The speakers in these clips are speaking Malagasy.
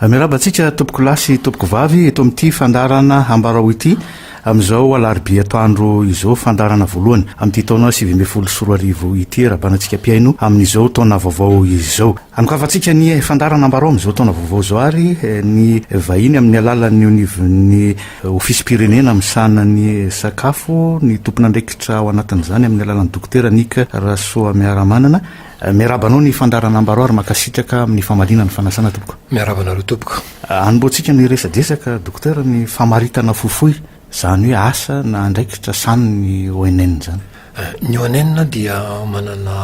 Miarahaba antsika tompoko lahy sy tompoko vavy eto amin'ity fandaharana Ambarao ity amin'izao alarobia atoandro izao fandaharana voalohany amin'ity taona sivy ambin'ny folo sy roa arivo ity Rabanantsika mpihaino amin'izao taona vaovao izao. Anokavantsika ny fandaharana Ambarao amin'izao taona vaovao izao ary ny vahiny amin'ny alalan'ny onivon'ny ofisim-pirenena misahana ny sakafo ny tompon'andraikitra ao anatin'izany amin'ny alalan'ny Dokotera Nic Rasoamiaramanana Miarahaba anao ny Fandary Ranambaro ary mankasitraka amin'ny famaliana ny fanasana tompoko. Miarahaba anareo tompoko. Hanombohantsika ny resa-desaka Dokotera ny famaritana fofoy, izany hoe asa na andraikitra sany ny ONN zany. Ny ONN dia manana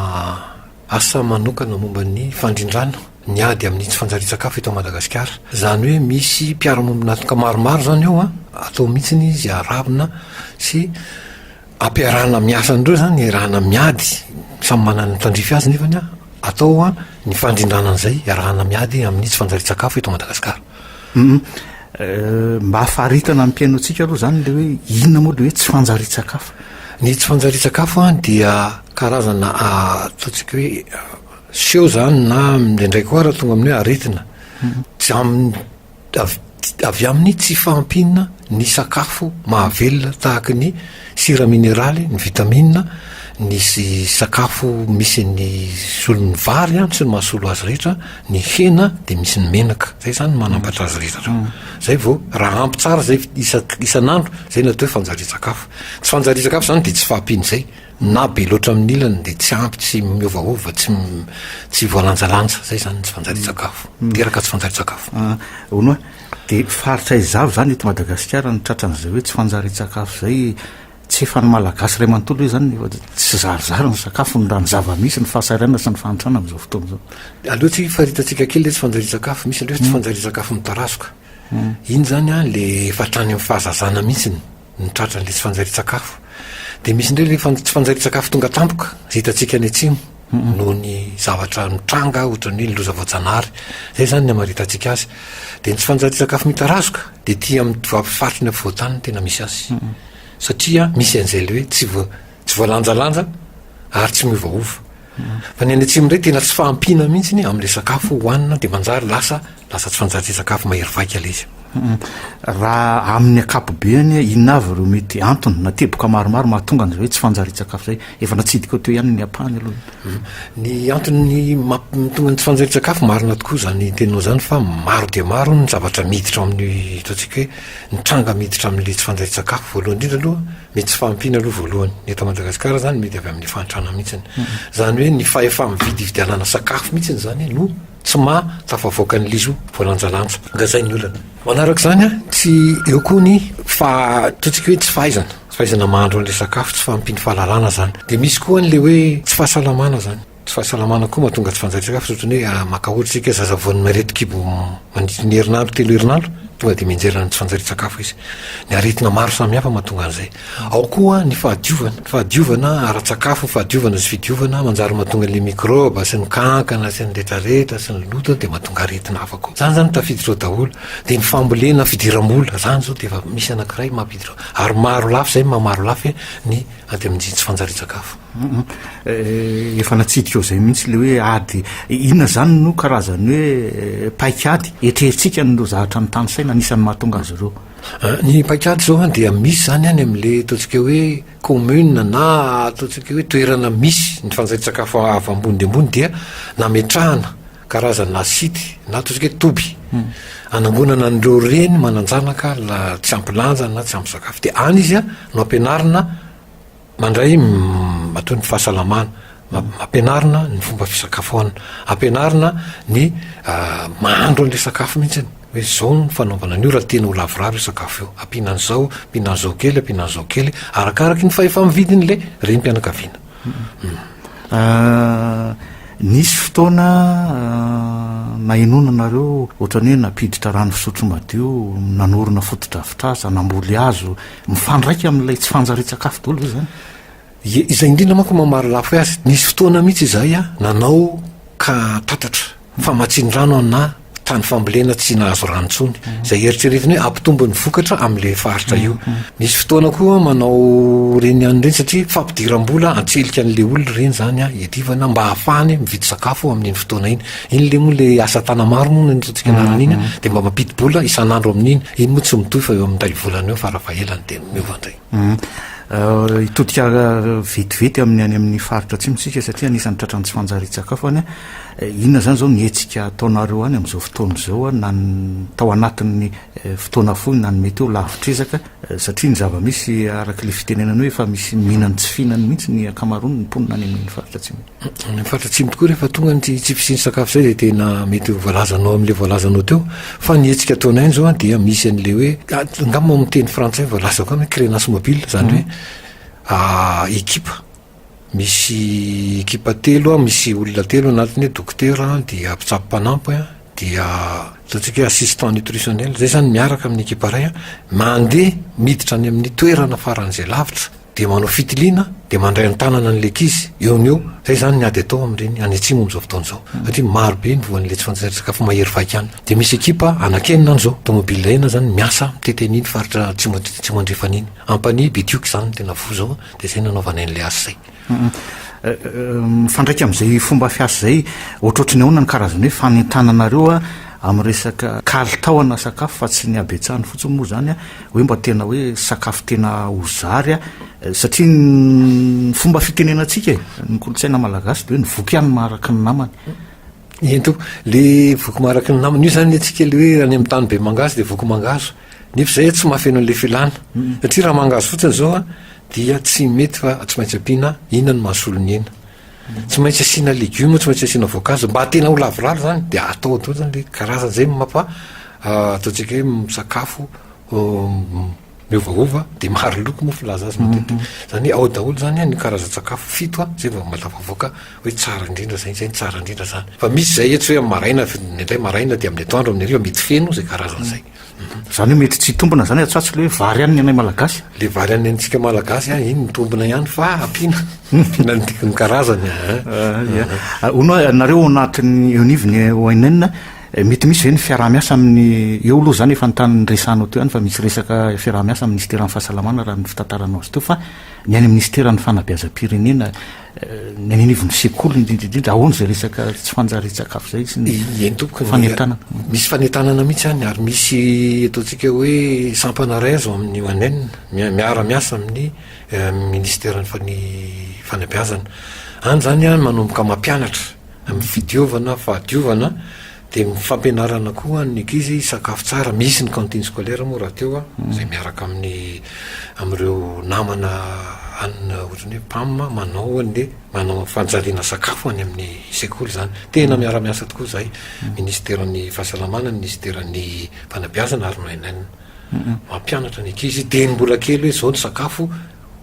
asa manokana momba ny fandrindrana ny ady amin'ny tsy fanjarian-tsakafo eto Madagasikara. Izany hoe misy mpiara-monina antoka maromaro izany ao an, atao mihitsy izy arahina sy. ampiarahana miasa an'ireo zany iarahana miady samy manana ny tandrify azy nefany an atao an ny fandrindrana an'izay iarahana miady amin'ny tsy fanjarian-tsakafo eto madagasikara um mba hafaritana ny mpiaino antsika aloha zany le hoe inona moa le hoe tsy fanjarian-tsakafo ny tsy fanjarian-tsakafo an dia karazana ataontsika hoe seho zany na mindraindraiky koa raha tonga amin'ny hoe aretina tsy amin'ny avy amin'ny tsy fahampiana ny sakafo mahavelona tahaka ny sira mineraly, ny vitamina, ny sakafo misy ny solon'ny vary sy ny mahasolo azy rehetra, ny hena dia misy ny menaka, izay izany no manampatra azy rehetra ireo. Izay vao raha ampy tsara izay isan'andro, izay no atao hoe fanjarian-tsakafo. Tsy fanjarian-tsakafo izany dia tsy fahampian'izay. Na be loatra amin'ny ilany dia tsy ampy, tsy miovaova, tsy tsy voalanjalanja, zay zany ny tsy fanjarian-tsakafo, miteraka tsy fanjarian-tsakafo. Ah, hono a! dia faritra izavo zany eto Madagasikara ny tratran'izay hoe tsy fanjarian-tsakafo zay? Tsy efa ny Malagasy iray manontolo ve zany efa tsy zarizary ny sakafony raha ny zava-misy, ny fahasahiranana sy ny fahantrana amin'izao fotoana izao? Aleo tsy faritantsika kely le tsy fanjarian-tsakafo, misy indray tsy fanjarian-tsakafo mitarazoka, iny zany an le efa hatrany amin'ny fahazazana mihitsiny. ny tratra indray tsy fanjairin-tsakafo dia misy indray ilay tsy fanjairin-tsakafo tonga tampoka izay hitantsika any atsimo noho ny zavatra mitranga ohatran'ny hoe ny loza voajanahary izay izany ny hamaritantsika azy dia ny tsy fanjairin-tsakafo mitarazoka dia tia amin'ny faritry ny afovoan-tany no tena misy azy satria misy an'izay ilay hoe tsy voa Tsy voalanjalanja ary tsy miovaova. Fa ny any atsimo indray tena tsy fahampiana mihitsy ny amin'ilay sakafo hohanina dia manjary lasa lasa tsy fanjary sakafo mahery vaika ilay izy. Raha amin'ny ankapobeny inona avy ireo mety antony na teboka maromaro mahatonga an'izay hoe tsy fanjarian-tsakafo izay? Efa natsidika teo ihany ny ampahany aloha. Mhm. Ny antony mahatonga ny tsy fanjarian-tsakafo marina tokoa izany teninao izany fa maro dia maro ny zavatra miditra ao amin'ny ataontsika hoe ny tranga miditra amin'ilay tsy fanjarian-tsakafo voalohany indrindra aloha Ny tsy fahampiana aloha voalohany, ny eto Madagasikara izany mety avy amin'ny fahantrana mihitsiny. Izany hoe ny fahefa-mividy hividianana sakafo mihitsiny izany no tsy maha tafavoaka ny lizo voalanjalanja. Ngazay ny olana. Manaraka izany, tsy eo koa ny faha, ataontsika hoe tsy fahaizana, tsy fahaizana mahandro an'ilay sakafo, tsy fahampian'ny fahalalana izany. Dia misy koa an'ilay hoe tsy fahasalamana izany. Tsy fahasalamana koa mahatonga tsy fanjarian-tsakafo ohatran'ny hoe ah, maka ohatra isika zaza voan'ny mailety kibo mandritry ny herinandro telo herinandro tonga dia mianjera ny tsy fanjarian-tsakafo izy. Ny aretina maro samihafa mahatonga an'izay. Ao koa ny fahadiovana, ny fahadiovana ara-tsakafo, ny fahadiovana sy fidiovana manjary mahatonga an'ilay mikrôba sy ny kankana sy ny retraretra sy ny loto dia mahatonga aretina hafa koa. Izany izany tafiditra ao daholo. Dia ny fambolena, fidiram-bola, izany izao dia efa misy anankiray mampiditra ao. Ary maro lafy izay maha maro lafy ny aty amin'ny tsy fanjarian-tsakafo. Efa natsidika ho izay mihitsy ilay hoe ady. Inona izany no karazan'ny hoe paik'ady? Etreritsika an'ireo zavatra nitany saina, anisan'ny mahatonga azy ireo. Ny paik'ady izao dia misy izany any amin'ilay ataontsika hoe commune na ataontsika hoe toerana misy ny fanjaian-tsakafo avy ambony dia ambony dia nametrahana karazana site na ataontsika hoe toby hanangonana an'ireo reny manan-janaka tsy ampy lanja na tsy ampy sakafo. Dia any izy no ampianarina. Mandray matoa ny fahasalamana, ampianarina ny fomba fisakafoanana, ampianarina ny mahandro an'ilay sakafo mihitsy ny hoe izao ny fanaovana an'io raha tiana ho lavorary io sakafo io, ampiana an'izao, ampiana an'izao kely, ampiana an'izao kely, arakaraky ny fahefa-mividin'ilay renim-pianakaviana. Nisy fotoana nahenoana anareo ohatran'ny hoe nampiditra rano fisotro madio, nanorina fotodrafitrasa, namboly hazo, Mifandraika amin'ilay tsy fanjarian-tsakafo daholo ve izany? Ie, izay indrindra manko no maha-marolafy azy. Nisy fotoana mihitsy izahay nanao ka tatatra, famatsian-drano anà tany fambolena tsy nahazo rano intsony, izay eritreretina hoe hampitombo ny vokatra amin'ilay faritra io. Nisy fotoana koa manao ireny ihany ireny satria fampidiram-bola an-tselika an'ilay olona ireny izany hiadivana mba hahafahany mividy sakafo amin'iny fotoana iny. Iny le moa le asa tana maro moa ny ratsika anarana iny dia mba mampidi-bola isan'andro amin'iny. Iny moa tsy mitohy fa eo amin'ny iray volana eo fara fahelany dia miova indray. Euh, hitodika euh, vetivety amin'ny any amin'ny faritra atsimo isika satria anisan'ny tratran'ny tsy fanjarian-tsakafo any eh, inona izany izao ny hetsika ataonareo any amin'izao fotoana izao a na tao anatin'ny eh, fotoana fohy na ny mety eo lavitr'ezaka eh, satria ny zava-misy araka ilay fitenenana hoe efa misy mihinany tsy fihinany mihitsy ny ankamaroany ny mponina any amin'ny faritra atsimo Any faritra atsimo tokoa rehefa tonga ny tsy fisian'ny sakafo izay dia tena mety ho voalazanao amin'ilay voalazanao teo. Fa ny hetsika ataonay izao an, dia misy an'ilay hoe, angamba ao amin'ny teny frantsay voalazako any hoe crénasse mobile, izany hoe ekipa, misy ekipa telo, misy olona telo anatiny hoe dokotera, dia mpitsabo mpanampy, dia ataontsika hoe assistant nutritionnel, izay izany miaraka amin'ny ekipa iray, mandeha miditra any amin'ny toerana faran'izay lavitra, dia manao fitiliana dia mandray an-tanana an'ilay ankizy eo no eo, izay izany ny ady atao amin'ireny any atsimo amin'izao fotoana izao, satria maro be ny voan'ilay tsy fanjarian-tsakafo mahery vaika any, dia misy ekipa anankenina any izao, tomobil enina izany miasa mitety an'iny faritra atsimo atsimo andrefana iny, ampanihy Betioky izany no tena voa izao an, dia izay no nanaovanay an'ilay asa izay. Mifandraika amin'izay fomba fiasa izay, ohatrohatry ny ahoana ny karazan'ny hoe fanentananareo amin'ny resaka kalitao ana sakafo fa tsy ny habetsahany fotsiny moa izany an, hoe mba tena hoe sakafo tena ho zary satria ny fomba fitenenantsika e ny kolontsaina malagasy de hoe ny voky ihany maharaky ny namany eny to le voky maharaky ny namany io zany atsika le hoe any amin'ny tany be mangahazo de voky mangahazo nefa zay tsy mahafeno an'le filana satria raha mangahazo fotsiny zao dia tsy mety fa tsy maintsy ampiana inona no mahasolo ny aina Tsy maintsy asiana legioma, tsy maintsy asiana voankazo, mba tena ho lavorary zany de atao daholo zany le karazany zay mampa ataontsika hoe misakafo miovaova de maro loko moa filaza azy matetika, zany hoe ao daholo zany an ny karazan-tsakafo fito an zay vao mba tafavoaka hoe tsara indrindra zay, zay no tsara indrindra zany, fa misy zay ohatra hoe am maraina, nendray maraina de amin'ny atoandro amin'ny hariva mety feno zay karazany zay. Zany hoe mety tsy hitombina zany atsatso le vary any ny anay malagasy? Le vary any antsika malagasy an, iny mitombina ihany fa ampiana, ampiana ny dikany karazany an. Ia. Hono hoe nareo ao anatin'ny eo anivon'ny ONN, mety misy ve ny fiaraha-miasa amin'ny, eo aloha zany efa ny tany niresahanao teo ihany fa misy resaka fiaraha-miasa amin'ny Minisiteran'ny Fahasalamana raha ny fitantaranao azy teo fa ny any amin'ny Minisiteran'ny Fanabeazam-pirenena ny any anivon'ny sekoly indrindra indrindra ahoana izay resaka tsy fanjarian-tsakafo izay sy ny entoka fanentanana misy fanentanana mihitsy any ary misy ataontsika hoe sampana raiso amin'ny manen miara miasa amin'ny eh, ministera ny fany fanabeazana any zany a manomboka mampianatra amin'ny fidiovana fahadiovana Dia ny fampianarana koa ny ankizy sakafo tsara, misy ny cantine scolaire moa rahateo a, izay miaraka amin'ny amin'ireo namana any ohatran'ny hoe pam a, manao anie, manao fanjariana sakafo any amin'ny sekoly izany. Tena miara-miasa tokoa izahay, Ministeran'ny Fahasalamana, Ministeran'ny Fanabeazana ary ny ONN. Mampianatra ny ankizy dieny mbola kely hoe izao ny sakafo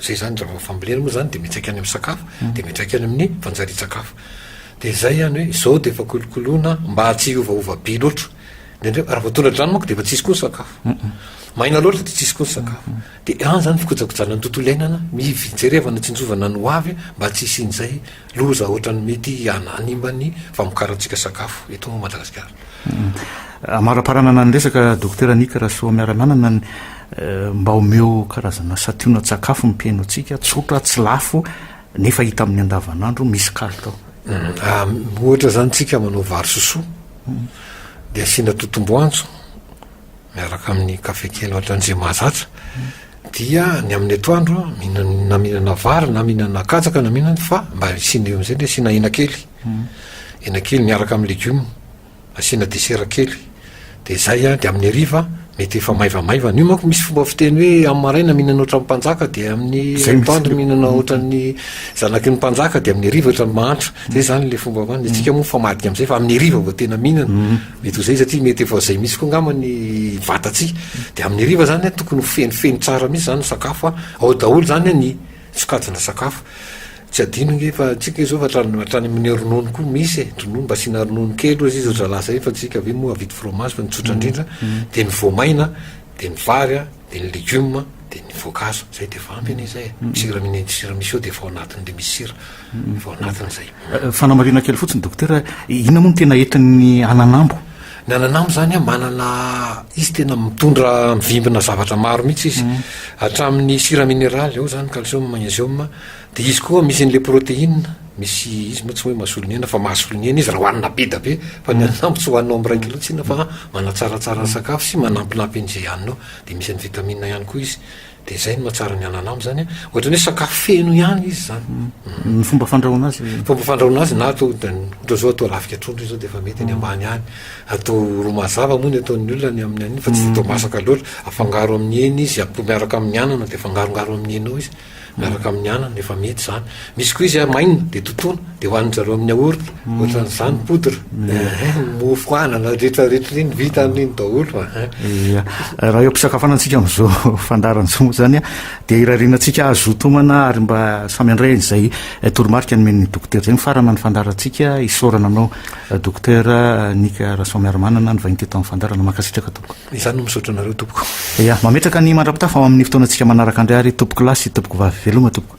Zay zany raha vao fambolena moa zany de miantraika any amin'ny sakafo de miantraika any amin'ny fanjarian-tsakafo. De zay ihany hoe zao de efa kolokoloina mba tsy hiovaova be loatra. Indraindray raha vao tonga an-drano manko de efa tsisy koa ny sakafo. Maina loatra de tsisy koa ny sakafo. De any zany fikojakojana ny tontolo iainana, mivi-jerevana tsinjovana ny ho avy mba tsy hisian'izay loza ohatran'ny mety hana- hanimba ny famokarantsika sakafo eto Madagasikara. Amaraparana na ny resaka Dokotera Nick Rasoamiarananana ny eh, mba omeo karazana sationa tsakafo ny mpihaino antsika, tsotra, tsy lafo, nefa hita amin'ny andavanandro, misy kalitao. Mm, ah, ohatra zany tsika manao vary sosoa, dia asiana totomboantso, miaraka amin'ny kafe kely ohatra an'izay mahazatra, dia ny amin'ny atoandro mihinana na mihinana vary na mihinana katsaka na mihinana fa mba hisiana eo amin'izay dia asiana hena kely, hmm. hena kely miaraka amin'ny legioma, asiana desera kely, dia izay a, dia amin'ny hariva mety efa maivamaivana io manko misy fomba fiteny hoe amin'ny maraina mihinana ohatran'ny mpanjaka dia amin'ny atoandro mihinana ohatran'ny zanaky ny mpanjaka dia amin'ny hariva ohatran'ny mahantra, zay zany le fomba, ny antsika moa mifamadika amin'izay fa amin'ny hariva vao tena mihinana. Hmm. Mety ho zay izy aty mety efa zay mihitsy koa angamba ny vatatsy de amin'ny hariva zany a tokony ho fenofeno tsara mihitsy zany ny sakafo a ao daholo zany a ny sokajina sakafo tsy adino nge fa tsika izao fa hatrany hatrany amin'ny ronono koa misy e ronono mba asiana ronono kely ozy izy zalahy zay fa tsika ve moa havidy fromage fa ny tsotra indrindra de ny voamaina de ny vary a Dia ny legioma dia ny voankazo, izay dia efa ampy anie izay e, ny sira mine, ny sira misy ao dia efa ao anatiny ilay misy sira, efa ao anatiny izay. Fanamarihana kely fotsiny Dokotera, inona moa no tena entin'ny ananambo? Ny ananambo izany an, manana, izy tena mitondra, mivimbina zavatra maro mihitsy izy, hatramin'ny sira mineraly, ao izany ny calcium, ny magnesium, Dia izy koa misy an'ilay protéine, misy izy moa tsy hoe mahasolo ny aina fa mahasolo ny aina izy raha hohanina be dia be, fa ny ananambo tsy hohaninao miraika loatra iny fa manatsaratsara ny sakafo sy manampinampy an'izay haninao, dia misy an'ny vitamine ihany koa izy, dia izay no mahatsara ny ananambo izany an, ohatra ny hoe sakafo feno ihany izy izany. Ny fomba fandrahoana azy? Fomba fandrahoana azy na atao dia ohatra izao atao lafika trondro izy izao dia efa mety any ambany any, atao ro mazava moa ny ataon'ny olona ny amin'ny an'iny fa tsy dia atao masaka loatra, afangaro amin'ny hena izy, atao miaraka amin'ny anana dia afangarongaro amin'ny hena ao izy. Miaraka amin'ny anana, efa mety izany. Misy koa izy maina, dia totoina, dia hohanin-dry zareo amin'ny yaourt, ohatran'izany, poudre. Mofo anana rehetra rehetra iny, vita amin'iny daholo. Ia. Raha eo am-pisakafoanana antsika amin'izao fandaharan'ny zoma izany an, dia irariana antsika hazoto homana ary mba samy handray an'izay toromarika nomen'ny dokotera izay. Mifarana ny fandaharantsika, isaorana anao dokotera Nika Rasoamiarimanana nivahiny teto amin'ny fandaharana. Mankasitraka tompoko. Izaho no misaotra anareo tompoko. Ya, mametraka ny mandra-pitafa ao amin'ny fotoanantsika manaraka indray ary tompoko lahy sy tompoko vavy. Veloma tompoko.